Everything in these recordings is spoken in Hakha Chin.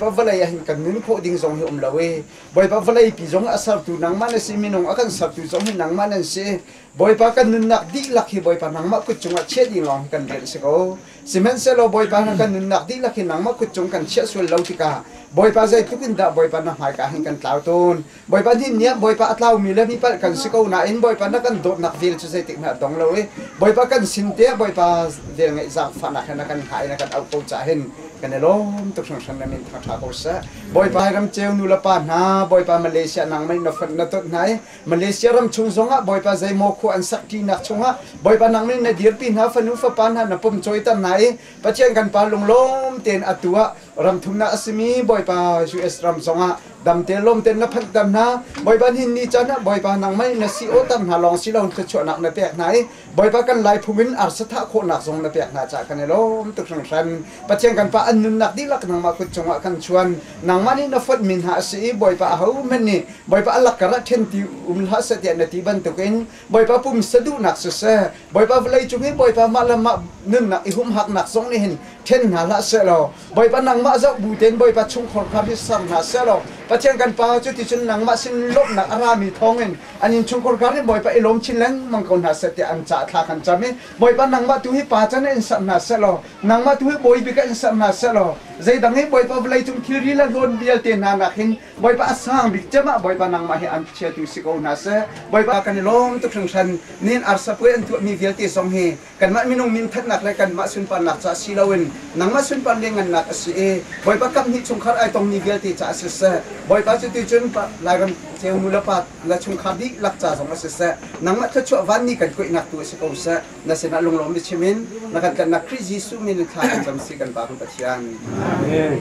vawlei ah hin kan nun khawh ding zong hi um lo i Bawipa vawleipi zong a sertu nangmah na si minung a kan sertu zong hi nangmah nan si Bawipa kan nunnak dihlak hi Bawipa nangmah kut cungah chiah ding lawng hi kan rel a si ko sihmanhsehlaw Bawipa na kan nunnak dihlak hi nangmah kut cung kan chiah sual lo tikah Bawipa zeitluk in dah Bawipa na hmaika hin kan tlau tawn Bawipa din nih Bawipa a tlaumi le mipalh kan si ko nain Bawipa na kan dawtnak vel cu zeitik hmanh a dong lo i Bawipa kan sin te Bawipa vel ngeih zaangfahnak he na kan hngah i na kan auh ko caah hin kan i lawm tuk hringhran le min thang ṭha ko seh. Bawipa hi ram ceu nu le pa hna, Bawipa Malaysia nangmah na fonh na tonh hna i Malaysia ram chung zongah Bawipa zeimaw khua an sakṭinak chungah Bawipa nangmah in na dirpi hna fanu fapa hna na pumcawiter hna i Pathian kan pa lunglawm tein atu ah ram thumnak a simi Bawipa US ram zongah damte lawmten na phanh ter hna bawipa hin ni can ah bawipa nang mei na si o ter hna lawng si lo thluachuahnak na pek hna i bawipa kan lai phung in arsatha khawhnak zong na pek hna ca kan i lawm tuk hranghran pathian kan pa an nunnak dihlak nangmah kut cungah kan chuan nangmah nih na fotmi hna a si i bawipa ahohmanh nih bawipa a lakkar ah ṭhen ti um hlah seh tiah na ti bantukin Bawipa pum saduhnak siseh, Bawipa vawlei cung hi Bawipa mah le mah nunnak i humhaknak zong nih hin ṭhen hna hlah sehlaw Bawipa nangmah zoh bu tein Bawipa chungkhar kha hi ser hna sehlaw Pathian kan Pa cu cuticun nangmah sin lawmhnak a rami thawngin an innchungkhar kha hin Bawipa i lawm chin lengmang ko hna seh tiah an ca thla kan cam i Bawipa nangmah tu hi pa can in in ser hna sehlaw nangmah tu hi bawi bik in ser hna sehlaw zeidang hi Bawipa vawlei cung thilri le hlawn vialte hna nakin Bawipa a sang bik cem ah Bawipa nangmah hi an chiatu si ko hna seh. Bawipa kan i lawm tuk hringhran. Nin arsapuai an tuahmi vialte zong hi kanmah minung minthatnak le kanmah sunparnak caah si loin nangmah sunpar liangngannak a si i Bawipa kamhnih chungkhar ai tongmi vialte caah siseh, Bawipa cuti cun Lairam ceu nu le pa le chungkhar dihlak ca zong ah siseh, nangmah thluachuah vanmi kan kuaihnak tu si ko seh. Na sinah lunglawm biachim in na kan tlanhnak Khrih Jesuh min in thla kan cam si kan Pa kan Pathian. Amen.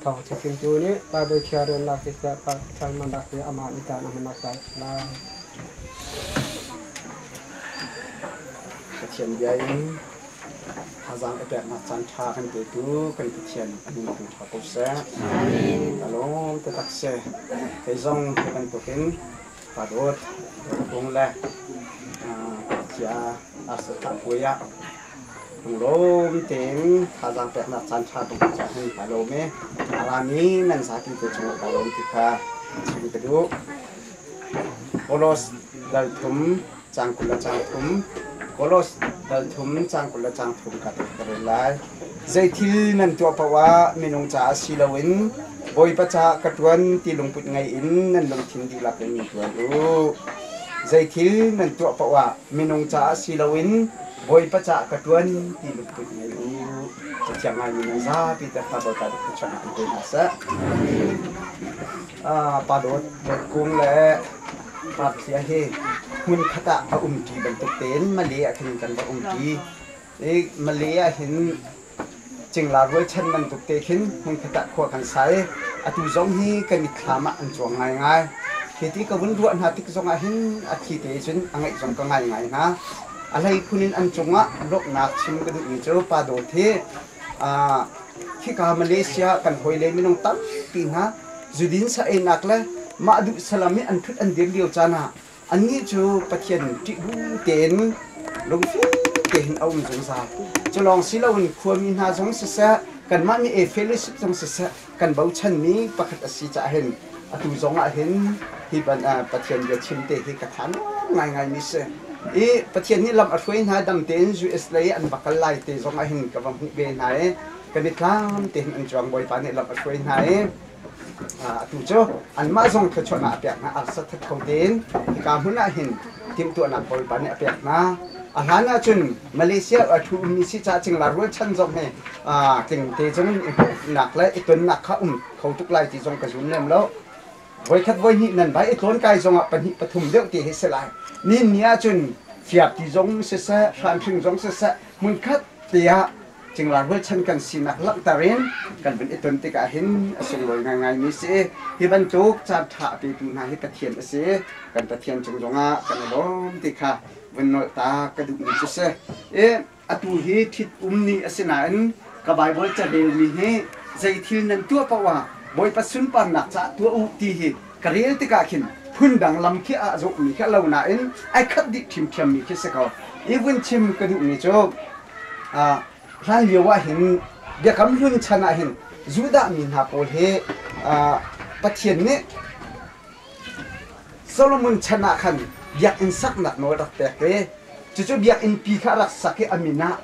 Thawngṭha chimtu nih Baibal khiarrelnak hi siasah thalmannak hi amah nih dan a hman a sai lai. Pathian bia in thazaang i peknak caan ṭha kan petu kan Pathian a nuntu ṭha ko seh. Amin. A lawm taktak si. Kei zong hi bantukin ka dawt, dawt bung le khuachia arsa thah puai ah Lawm tein thazaang peknak caanṭha bantuk caah hin ka lawm i a rami nan zapi te cungah ka lawm ti kha chim ka duh. Kolos dal thum cang kul le cang thum Kolos dal thum cang kul le cang thum ka tek ka rel lai. Zeithil nan tuah paoh ah minung caah si loin Bawipa caah ka ṭuan ti lungput ngei in nan lungthin dihlak in ṭuan u. Zeithil nan tuah paoh ah minung caah si loin Bawipa ca'h ka ṭuan ti lungput ngei u, cathiang ngaimi nan zapi te hna Dawt ah duk thluachuah ngah in pe hna seh. Pa Dawt Vet Kung le ngakchia hi hmunkhat ah a umṭi bantuk tein Male ah khin kan va umṭi. I Male ah hin Cingla rualchan bantuk te khin hmunkhat ah khua kan sa i atu zong hi ka mitthlam ah an cuang ngaingai. Hi ti ka vun ruah hna tik zongah hin a thi te cun a ngaih zong ka ngaingai hna. A hlei phun in an cungah lawmhnak chim ka duhmi cu Pa Dawt hi aa khika Malaysia kan hawile minung tampi hna zudin sa-einak le mah duh salam hi an thut an dir lio caan ah Annih cu Pathian ṭihbu tein lungfim tein a um zungzal. Cu lawng si loin khuami hna zong siseh, kanmah nih Efelisip zong siseh kan bochanmi pakhat a si caah hin atu zong ah hin hi Pathian bia chimte hi ka tha ngaingaimi a si. I Pathian nih lam a hruai hna dam tein US lei an va kal lai te zong ah hin ka va hmuh ve hna i kan i tlam tein an cuang. Bawipa nih lam a hruai hna i Atu cu anmah zong thluachuah hna a pek hna, arsat that kho tein hika hmun ah hin timhtuahnak bawipa nih a pek hna. A hlan ah cun Malaysia thu ummi si caah cinglar rualchan zong hi tlingte cun i hmuhnak le i tonnak kha um kho tuk lai ti zong ka zum lem lo. Voikhat voi hnih nan vai i tlawn kai zong ah pahnih pathum deuh ti hi si lai. Nin ni ah cun fiapti zong siseh, hranhring zong siseh, hmunkhat te ah cinglar rualchan kan sinak langhter in kan vun i ton tikah hin a sunglawi ngaingaimi si. Hi bantuk caan ṭha a petu hna hi Pathian a si. Kan Pathian cung zongah kan i lawm ti kha vun nolhtak ka duhmi cu si. I atu hi ṭhitum ni a si nain ka Baibal carelmi nih zei thil nan tuah paoh ah Bawipa sunparnak caah tuah u ti hi Ka rel tikah khin phundang lam khi aa zawhmi khi a lo nain ai khat dih ṭhimṭhiammi khi si ko. I vun chim ka duhmi cu hlan lio ah hin Biakam Hlun chan ah hin Judahmi hna pawl hi Pathian nih Solomon chan ah khan biakinn saknak nawl a rak pek i cucu biakinn pi kha a rak sak i a min ah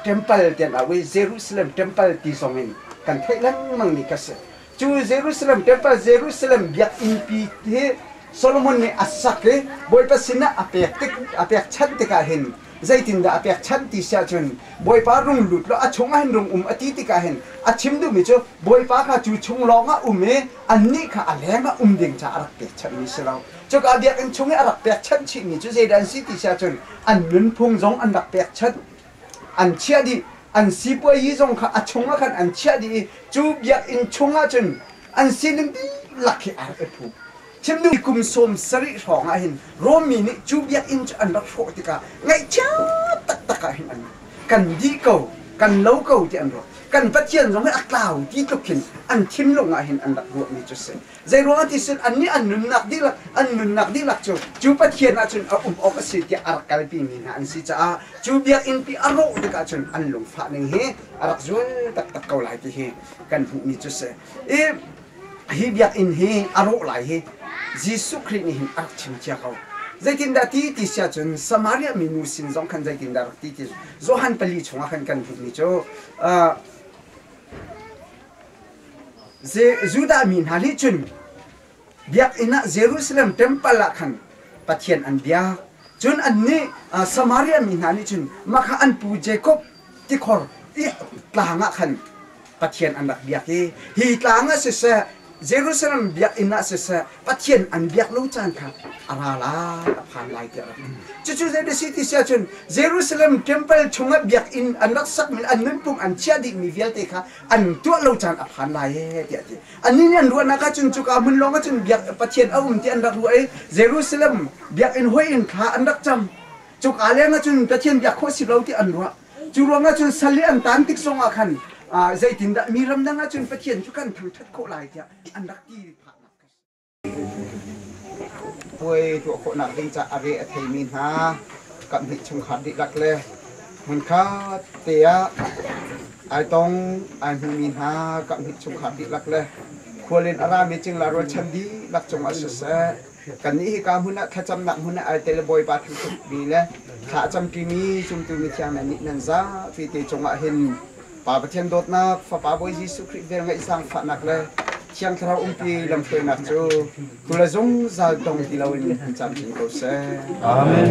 ṭempal tiah an auh i Jerusalem ṭempal ti zong in kan theih lengmang mi kha a si. Cu Jerusalem Tefa Jerusalem biakinnpi hi Solomon nih a sak i Bawipa sinah a pek tik a pekchanh tikah hin zeitindah a pekchanh ti si ahcun Bawipa rung lut law a chungah hin rung um a ti tikah hin a chim duhmi cu Bawipa kha cu chung lawngah um i annih kha a lengah um ding caah a rak pekchanhmi si lo. Cuka biakinn chung i a rak pekchanh chihmi cu zeidah an si ti si ahcun an nunphung zong an rak pekchanh. an chiah dih an sipuazi zong kha a chung ah khan an chiah dih i cu biakinn chung ah cun an sining dihlak hi aa rak i phu. Chimduh kum sawm sarih hrawng ah hin Rom mi nih cu biakinn cu an rak hrawh tikah ngaihchia taktak ah hin an kan dih ko kan lo ko ti an ruah. Kan pathian zong hi a tlau ti tluk hin an thinlung ah hin an rak ruahmi cu a si. Zeiruangah ti cun annih an nunnak dihlak an nunnak dihlak cu cu Pathian ah cun a um awk a si tiah a rak kalpimi hna an si caah cu biakinn pi a rawh tikah cun an lungfah ning hi a rak zun taktak ko lai ti hi kan hmuhmi cu si. I hi biakinn hi a rawh lai hi Jesuh Khrih nih hin a rak chim cia ko. Zeitindah ti ti si ahcun Samaria mi nu sin zong khan zeitindah rak ti ti Johan pali chungah khan kan hmuhmi cu uh, Judah mi hna nih cun biakinn ah Jerusalem ṭempal ah khan Pathian an biak. Cun annih Samaria mi hna nih cun mah kha an pu Jakob tikhor tlang ah khan Pathian an rak biak i hi tlang ah siseh Jerusalem biakinn ah siseh Pathian an biak lo caan kha a ra lai, a phan lai tiah rak in. Cucu zeidah a si ti si ahcun Jerusalem ṭempal chungah biakinn an rak sakmi an nunphung an chiah dihmi vialte kha an tuah lo caan a phan lai ee tiah a ti anih nih an ruahnak ahcun cuka hmun lawng ahcun biak pathian a um ti an rak ruah i Jerusalem biakinn hawi in thla an rak cam cuka leng ahcun pathian biak khawh si lo ti an ruah cu ruang ahcun sal i an tan tik zong ah khan zeitindah mi ramdang ahcun pathian cu kan thangṭhat khawh lai tiah an rak ti phah Puai tuah khawhnak ding caah a re a theimi hna kaphnih chungkhar dihlak le hmunkhat te ah ai tong ai hmumi hna kaphnih chungkhar dihlak le khual in a rami cingla rualchan dihlak cungah siseh kannih hika hmun ah thlacamnak hmun ah ai tel bawipa thangṭhat mi le thla a camṭimi zumtu mithiang hna nih nan zapi te cungah hin Pa Pathian dawtnak, Fapa Bawi Jesuh Khrih vel ngeih zaangfahnak le Thiang Thlarau umpi lamhruainak cu tu le zungzal tong ti loin hun camcin ko seh. Amen.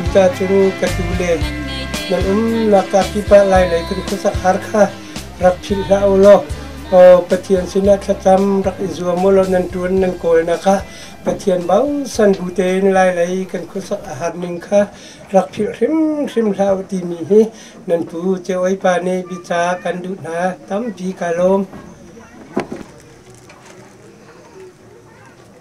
Innka cu ka tu le na umnak kaa kip ah lai lei kan khuasak har kha rak philh hlah u law Pathian sinah thlacam rak i zuam u law nan ṭuan nan kawlnak kha Pathian bausan bu tein lai lei kan khuasak a har ning kha rak philh hrimhrim hlah u timi hi nan pu Ceoipa nih bica kan duh hna tampi ka lawm.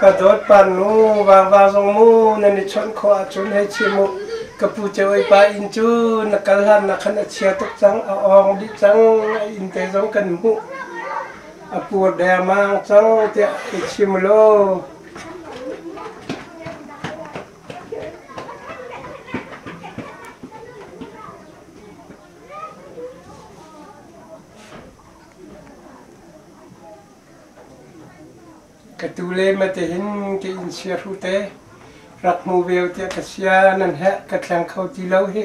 Ka dawtpan mu vava zong mu nan i chawnh khawh ahcun hei chim u ka pu Ceu pa inn cu na kal hlan na khan a chia tuk cang a awng dih cang a inn te zong kan hmuh a pur dermang cang tiah hei chim law Ka tu leng le te hin tiin sia hru te rak hmu veu tiah ka sia nan heh ka thleng kho ti lo hi.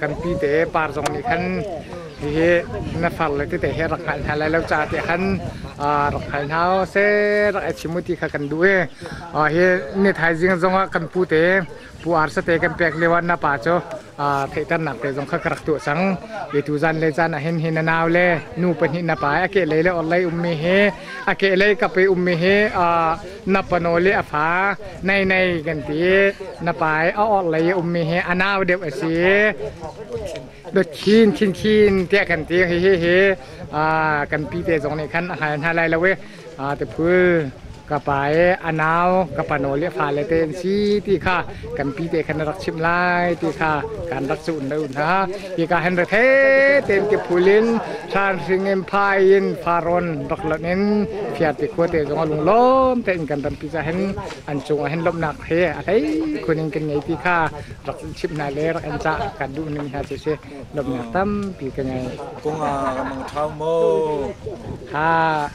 kanpi te par zong nih khan hihi na far le tete he rak hngal hna lai lo caah te khan rak hngal hna u se rak i chim u ti kha kan duh i hi ni thaizing zong ah kan pu te pu ar sate kan pek lio ah na pa cu theihternak te zong kha ka rak tuah cang i tu zan le zan ah hin hi na nau le nu pahnih na pa a ke lei le orlei ummi hi a ke lei kape ummi hi na panu le a fa nei nei kan ti na pai a or lei ummi hi a nau deuh a si dothin khin khin tiah kan ti hi hi hi kan pi te zong nih khan a hai hna lai lo e te phul ka pai a nau ka panu le fa le te an si ti kha kanpi te khan rak chim lai ti kha kan rak zuun lo hna hi ka hen rethe tem ke phul in thlan hring in phai in faron rak lan in phiat te khua te zong lung lom te in kan ram pizza hen an cung hen lomnak he a hlei khuning kan ngei ti kha rak chip hna le rak an cha kan duh ning hna che se lomnak tam pi ka ngai kung a ramang thau mo ha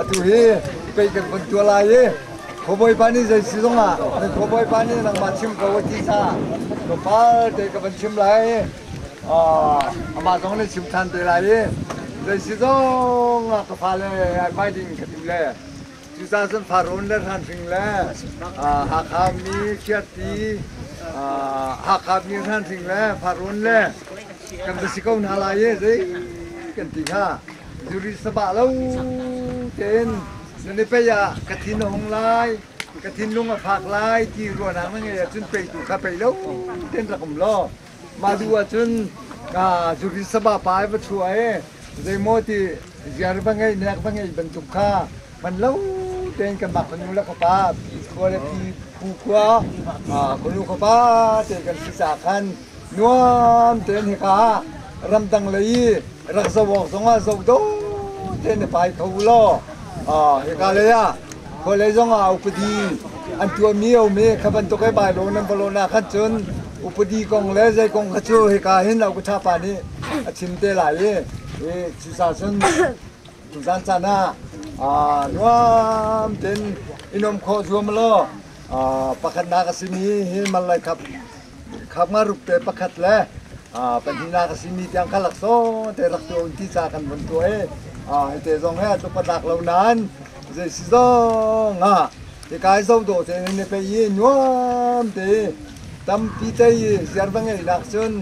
Atu hi pei kan von tuah lai i khuabawi pa nih zei si zongah nan khuabawi pa nih nangmah chim ko a ti sa tlawmpal te ka van chim lai amah zong nih chim ṭhan te lai i zei si zongah ka fale ai pai ding ka duh le Cucaah cun Faraon le hranhring le Hakha mi Khiahti Hakha mi hranhring le Faraon le kan va si ko hna lai e zei kan ti hnga zuri sabah lo tein nan i pei ah ka thin a hung lai ka thinlung a fak lai ti ruahnak na ngeih ahcun peitu kha pei lo tein rak um law Mah duh ahcun zuri saba pa i va chuah i zeimaw ti ziar va ngeih nek va ngeih bantuk kha man lo tein kanmah fanu le fapa pi khua le pi phu khua fanu fapa te kan si caah khan nuam tein hika ramdang lei i rak zoh awk zongah zoh dawh tein i pai kho u law hika lei ah Vawlei zongah upadi an tuahmi um i kha bantuk e Baibal nan va lawn ahkhan cun upadi kong le zei kong kha cu hika hin Aukuṭha pa nih a chim te lai i cusa cun tuzan caan ah nuam tein i nuam khawh zuam law pakhatnak a simi hi manlai khap khakma rupte pakhat le pahnihnak a simi tiang kha laksawng te rak tuah ti ca kan vun tuah i hite zong he atluk atlak lo nain zeisi zong ah hikai zo do te ne pe i nuam te tampi te i ziar va ngei nak cun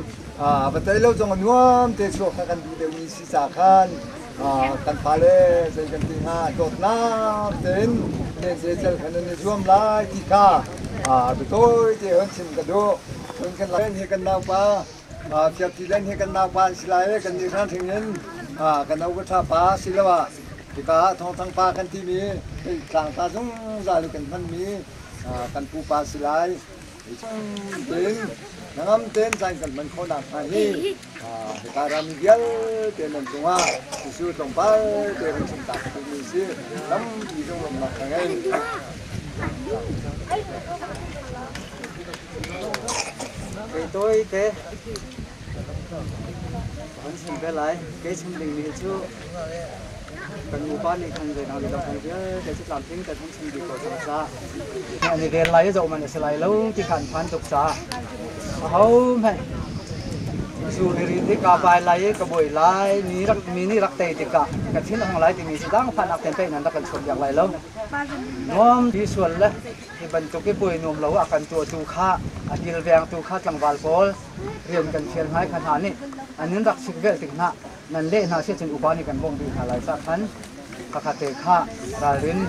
va tai lo zong nuam te chuak kha kan duh deuh mi si Thisa khan kan fale zei kan ti hnga dawtnak tein zeicel khan nan i zuam lai ti kha biatawi te hun chim ka duh. Cun kan lai hi kan naupa Thiapti Den hi kan naupa an si lai kan nih hran hring in kan no ka pa si lo ah hika thawngthang pa kan timi tlangta zungzal i kan hmanmi kan pupa si lai. Tingin nangam ten zain kan hman khawnak hnga hi hika ram vialte nan cungah Jesuh tlawmpal te run chim tak mi si lampi zong rumnak ka ngei. Kei toi te kan chim ve lai. Kei chim ding mi cu Kan nupa nih khan zeinak lila hmun vialte cu tlamtling tein an chim dih ko cang sa. An i ven lai i zoh man a si lai lo ti kha an phan tuk sa. A ho hmanh zu i rit hi ka bai lai i ka boi lai mi rak mi nih rak tei tikah ka thin a hung lai timi si dangfahnak ten pei nan rak kan chuah piak lai lo. Nuam hi sual le hi bantuk i poi nuam lo a kan tuahtu kha a kilvengtu kha tlangval pawl rian kan thial hnai kha hna nih an in rak sik velh tik hna Nan leh hna seh cun upa nih kan bawmh rih hna lai cah khan khakhatte kha ralrin,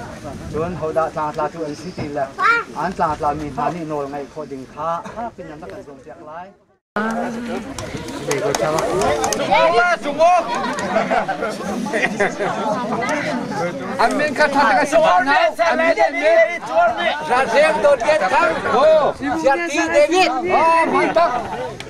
cun hodah tlangtla cu an si ti le an tlangtlami hna nih nawl ngaih khawh ding kha fak piin an rak kan cawnpiak lai. An min kha thang a sawar no, an min in Ralhreng Dawt Get Thang, Ho, Siarti David, oh, Mantak,